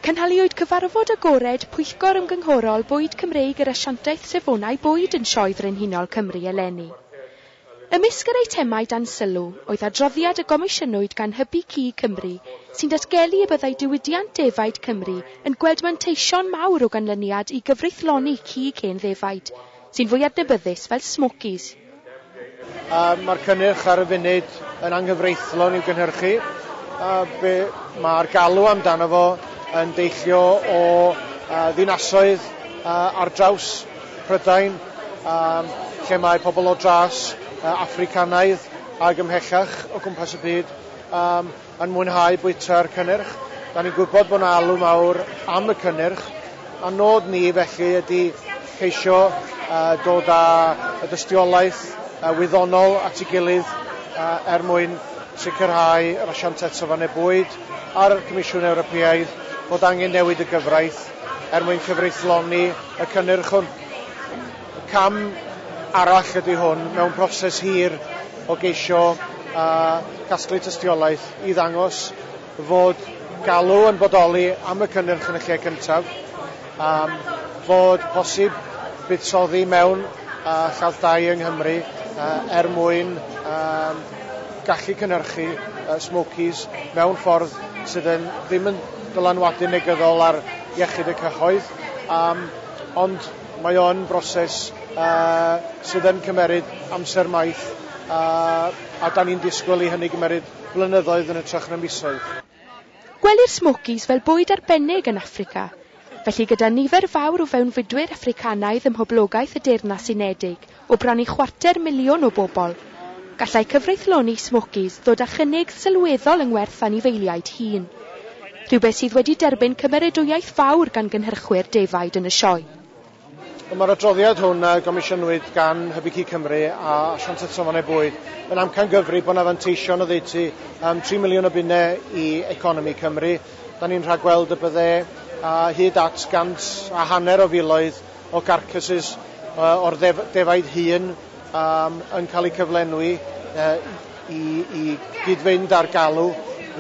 Cynhaliwyd cyfarfod agored Pwyllgor Ymgynghorol Bwyd Cymreig yr Asiantaeth Safonau Bwyd yn Sioe Frenhinol Cymru eleni. Ymysg yr eitemau dan sylw oedd adroddiad y gomisiynwyd gan Hybu Cig Cymru sy'n datgelu y byddai diwydiant defaid Cymru yn gweld manteision mawr o ganlyniad i gyfreithloni cig hen ddefaid Sy'n fwy adnabyddus fel Smokies. A mae'r cynnyrch ar y funud yn anghyfreithlon i'w gynhyrchu, a be mae'r galw amdano fo yn deillio o ddinasoedd ar draws Prydain lle mae pobl o dras Affricanaidd ag ymhellach o gwmpas y byd, yn mwynhau bwyta'r cynnyrch. Da ni'n gwybod bod yna alw mawr am y cynnyrch, a nod ni felly ydy ceisio dod â y dystiolaeth wyddonol at ei gilydd er mwyn sicrhau yr Asiantaeth Safonau Bwyd a'r Comisiwn Ewropeaidd fod angen newid y gyfraith er mwyn cyfreithloni y cynnyrch hwn. Cam arall ydy hwn mewn proses hir o geisio a casglu tystiolaeth i ddangos fod galw yn bodoli am y cynnyrch yn y lle cyntaf, a fod posib buddsoddi mewn a lladd-dai yng Nghymru er mwyn gallu cynhyrchu smokies mewn ffordd sydd yn ddim yn dylanwadu negyddol ar iechyd y cyhoedd, ond Mae o'n broses sydd yn cymeryd amser maith a 'dan ni'n disgwyl i hynny gymeryd blynyddoedd yn hytrach na misoedd. Gwelir smokies fel bwyd arbennig yn Affrica, felly gyda nifer fawr o fewnfudwyr Affricanaidd ym mhoblogaeth y Deyrnas Unedig, O bron i chwarter miliwn o bobl, gallai cyfreithloni Smokies ddod â chynnig sylweddol yng ngwerth anifeiliaid hŷn, rhywbeth sydd wedi derbyn cymeradwyaeth fawr gan gynhyrchwyr defaid yn y sioe. Mae'r adroddiad hwn a gomisiynwyd gan Hybu Cig Cymru a Asiantaeth Safonau Bwyd yn amcangyfrif bod 'na fanteision oddeutu am tri miliwn o bunnau i economi Cymru. Da ni'n rhagweld y bydde hyd at gant a hanner o filoedd o garcasses o'r defaid hŷn yn cael eu cyflenwi i gyd-fynd â'r galw.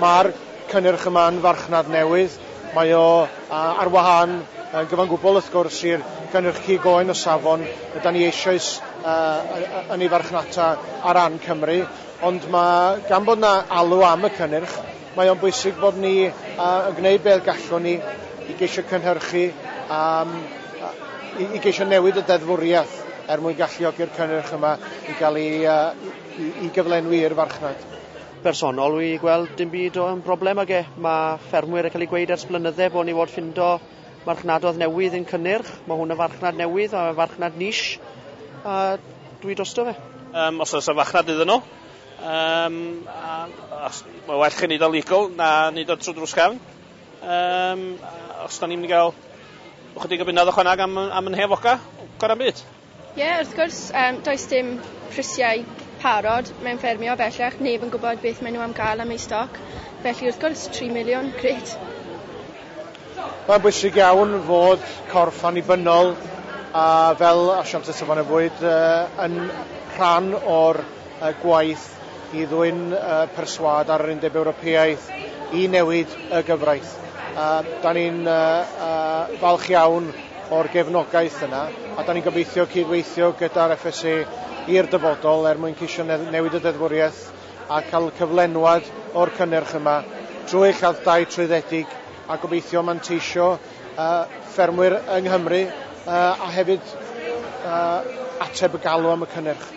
Mae'r cynnyrch yma'n farchnad newydd. Mae o ar wahân yn gyfan gwbl wrth gwrs i'r cynnyrch cig oen o safon y da ni eisoes yn ei farchnata ar ran Cymru, ond mae gan bod 'na alw am y cynnyrch, Mae o'n bwysig bod ni yn gwneud beth gallwn ni i geisio cynhyrchu a i geisio newid y deddfwriaeth er mwyn galluogi'r cynnyrch yma i gael ei i gyflenwi i'r farchnad. Personol wi gweld dim byd o'n broblem ag e. Mae ffermwyr yn cael ei gweud ers blynydde bod ni fod ffindo marchnadoedd newydd yn cynnyrch. Mae hwn yn farchnad newydd, a farchnad niche, a dwi drosto fe. Um, os oes y farchnad iddyn nhw, Yym, a, os, mae well chi wneud o legal na wneud o trwy drws cefn. Yym, os da ni'n mynd i gael ychydig o bunnoedd ychwaneg am, am yn hefoca, gorau byd. Ie, yeah, wrth gwrs, um, does dim prisiau parod mewn ffermio bellach, neb yn gwybod beth maen nhw am gael am eu stoc, felly wrth gwrs 3 miliwn, gret. Mae'n bwysig iawn fod corff annibynnol a fel asiant y safonau bwyd uh, yn rhan o'r y gwaith i ddwyn y perswâd ar yr Undeb Ewropeaidd i newid y gyfraith. A da ni'n falch iawn o'r gefnogaeth yna, a da ni'n gobeithio cydweithio gyda'r FSA i'r dyfodol er mwyn ceisio newid y deddfwriaeth a cael cyflenwad o'r cynnyrch yma trwy lladd-dai trwyddedig a gobeithio manteisio ffermwyr yng Nghymru a hefyd ateb y galw am y cynnyrch.